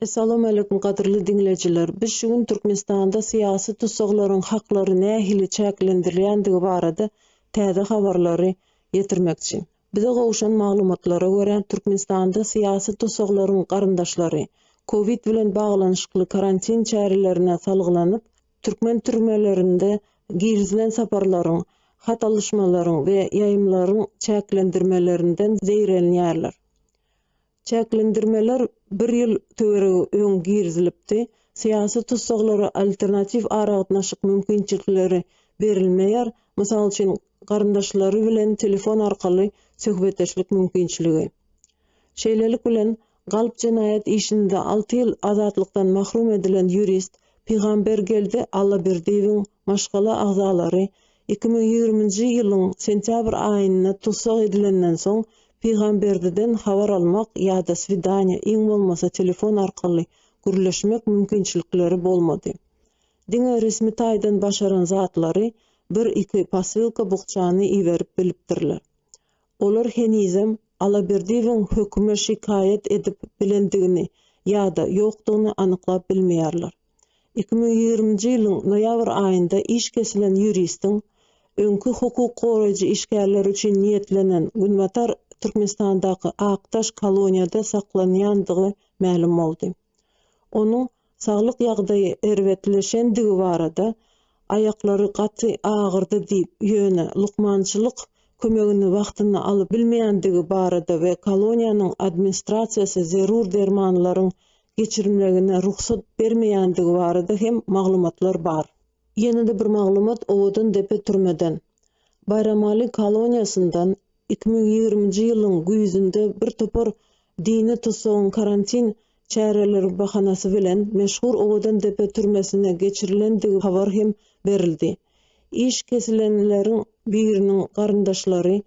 Essalawmaleýkum gadyrly diňleýjiler! Biz şu gün Türkmenistanda syýasy tussaglaryň haklary nähili çäklendirilýändigi barada täze habarlary ýetirmekçi. Bize gowşan maglumatlara görä, Türkmenistanda syýasy tussaglaryň garyndaşlary, covid bilen baglanyşykly karantin çärelerine salgylanyp, türkmen türmelerinde girizilen saparlaryň, hat alyşmalaryň we ýaýymlaryň çäklendirmelerinden zeýrenýärler. Çäklendirmeler bir ýyl töweregi öň girizilipdi. Syýasy tussaglara alternatiw aragatnaşyk mümkinçilikleri berilmeýär, mysal üçin, garyndaşlary bilen telefon arkaly söhbetdeşlik mümkinçiligi. Şeýlelik bilen, galp jenaýat işinde alty ýyl azatlykdan mahrum edilen ýurist Pygambergeldi Allaberdiýewiň maşgala agzalary Iki müň ýigriminji ýylyň sentýabr aýynda tussag edilenden soň, Pygamberdiden habar almak ýa-da swidaniýa, iň bolmasa telefon arkaly gürleşmek mümkinçilikleri bolmady. Diňe resmi taýdan başaran zatlary, bir-iki posylka bukjany iberip bilipdirler. Olar henizem Alaberdiýewiň höküme şikaýat edip bilendigini ýa-da ýokdugyny anyklap bilmeýärler. Iki müň ýigriminji ýylyň noýabr aýynda iş kesilen ýuristiň öňki hukuk goraýjy işgärleri üçin niýetlenen Günbatar Türkmenistandaky Akdaş koloniýada saklanýandygy mälim boldy. Onuň saglyk ýagdaýy erbetleşendigi barada Aýaklary gaty agyrdy diýip, ýöne lukmançylyk kömegini wagtynda alyp bilmeýändigi barada we koloniýanyň administrasiýasy zerur dermanlaryň geçirilmegine rugsat bermeýändigi barada hem maglumatlar bar. Ýene-de bir maglumat Owadan depe türmeden, Baýramaly koloniýasyndan iki müň ýigriminji ýylyň güýzünde bir topar dini tussagyň karantin çäreleri bahanasy bilen meşhur Owadan depe türmesine geçirilendigi habar hem berildi. Iş kesilenleriň biriniň garyndaşlary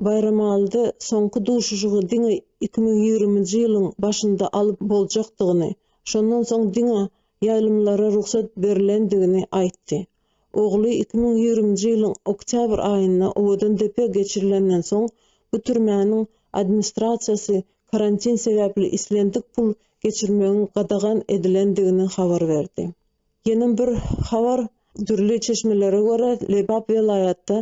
Baýramalyda soňky duşuşygy diňe iki müň ýigriminji ýylyň başynda alyp boljakdygyny, şondan soň diňe ýaýlymlara rugsat berilendigini aýtdy. Ogly iki müň ýigriminji ýylyň oktýabr aýynda Owadandepe geçirilenden soň, bu türmäniň administrasiýasy karantin sebäpli islendik pul geçirmegiň gadagan edilendigini habar berdi. Ýene bir habar, dürli çeşmelere görä, Lebap welaýatda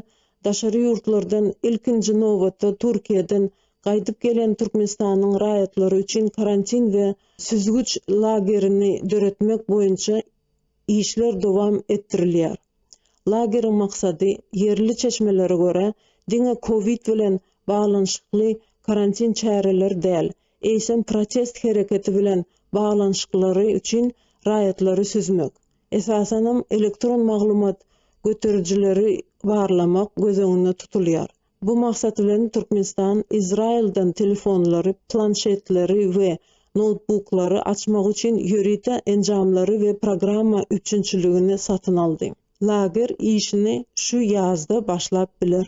daşary ýurtlardan, ilkinji nobatda Türkiýeden gaýdyp gelen Türkmenistanyň raýatlary üçin karantin we süzgüç lagerini döretmek boýunça işler dowam etdirilýär. Lageriň maksady, ýerli çeşmelere görä, diňe covid bilen baglanyşykly karantin çäreleri däl, eýsem protest hereketi bilen baglanyşyklary üçin raýatlary süzmek, esasanam elektron maglumat göterijileri barlamak göz öňünde tutulýar. Bu maksat bilen Türkmenistan Izraýyldan telefonlary, planşetleri we noutbuklary açmak üçin ýörite enjamlary we programma üpjünçiligini satyn aldy. Lager işini şu ýazda başlap biler.